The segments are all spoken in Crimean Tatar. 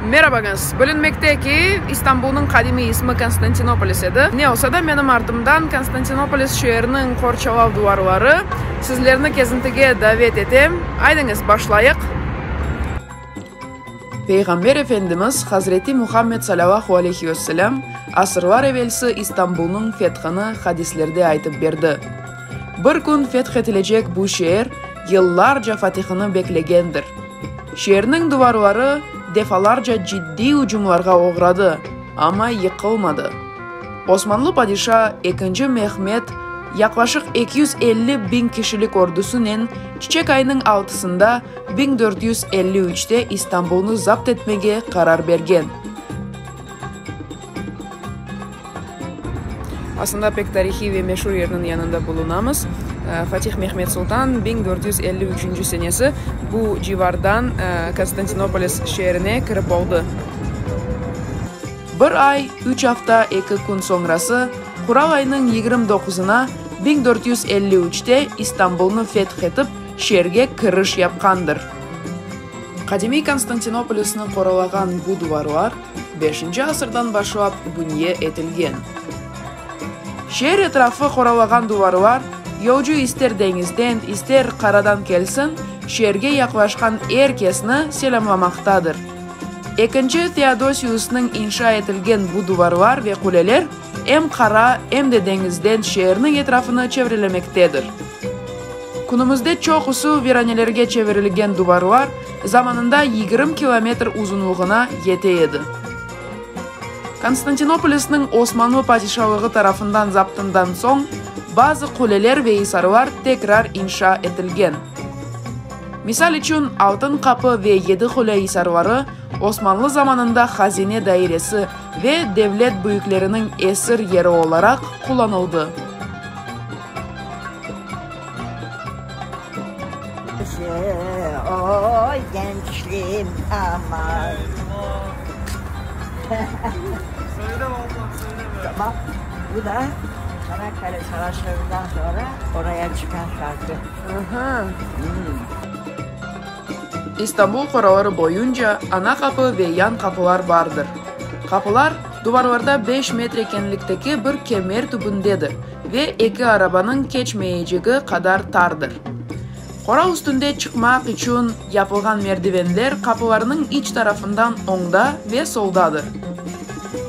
Merabañız! Bilinmekte ki, İstanbulnıñ qadimiy ismi Konstantinopolis edi. Ne olsa da, menim artımdan Konstantinopolis şeeriniñ qorçalav duvarları. Sizlerni kezintige davet etem. Aydıñız, başlayıq! Peyğamber Efendimiz Hazreti Muhammed salavahü aleyhi ve selâm asırlar evelsi İstanbulnıñ fethini hadislerde aytıp berdi. Bir kün fethetilecek bu şeer yıllarca fatihini beklegendir. Şeerniñ duvarları defalarca ciddiy ücümlarğa oğradı, amma yıqılmadı. Osmanlı padişa ekinci Mehmed yaqlaşıq eki yüz elli biñ kişilik ordusınen çiçek ayınıñ altısında biñ dört yüz elli üçte İstanbulnı zapt etmege qarar bergen. Aslında pek tarihiy ve meşur yerniñ yanında bulunamız. Fatih Mehmet Sultan biñ dört yüz elli üçünci senesi bu civardan Konstantinopolis şeerine kirip oldı. Bir ay, üç afta, eki kün soñrası, Qural aynıñ yigirmi doquzına, biñ dört yüz elli üçte İstanbulnı feth etip, şeerge kiriş yapqandır. Qadimiy Konstantinopolisni qoralağan bu duvarlar Beşinci asırdan başlap bünye etilgen. Şeer etrafı qoralağan duvarlar, yolcu ister deñizden, ister qaradan kelsin, şeerge yaqlaşqan er kesni selâmlamaqtadır. Ekinci Feodosiusnıñ inşa etilgen bu duvarlar ve quleler em qara, em de deñizden şeerniñ etrafını çevrelemektedir. Künümizde çoqusı viranelerge çevirilgen duvarlar zamanında yigirmi kilometr uzunlığına yete edi. Konstantinopolisniñ Osmanlı Padişalığı tarafından zaptından soñ bazı quleler ve isarlar tekrar inşa etilgen. Misal içün, Altın qapı ve Yedi qule isarları Osmanlı zamanında hazine dairesi ve devlet büyükleriniñ esir yeri olaraq qullanıldı. İstanbul qoraları boyunca ana qapı ve yan qapılar bardır. Qapılar, duvarlarda beş metre kenlikteki bir kemer tübündedir. Ve eki arabanıñ keçmeyecegi qadar tardır. Qora üstünde çıqmaq içün yapılğan merdivenler qapılarnıñ iç tarafından oñda ve soldadır.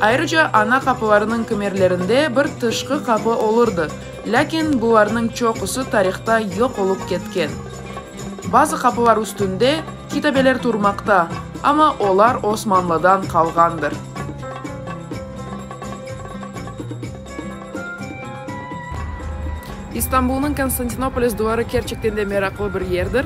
Ayrıca ana qapılarnıñ kimerlerinde bir tışqı qapı olurdı, lâkin bularnıñ çoqusı tarihta yoq olıp ketken. Bazı qapılar üstünde kitabeler turmaqta, amma olar Osmanlıdan qalğandır. İstanbulnıñ Konstantinopolis duvarı kerçekten de meraqlı bir yerdir.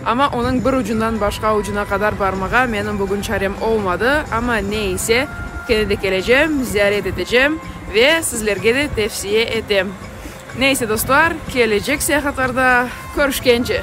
Amma onıñ bir ucundan başqa ucuna qadar barmağa menim bugün çarem olmadı, amma ne ise, kene de kelecem, ziyaret etecem ve sizlerge de tevsiye etem. Ne ise, dostlar, kelecek seyahatlarda körüşkence!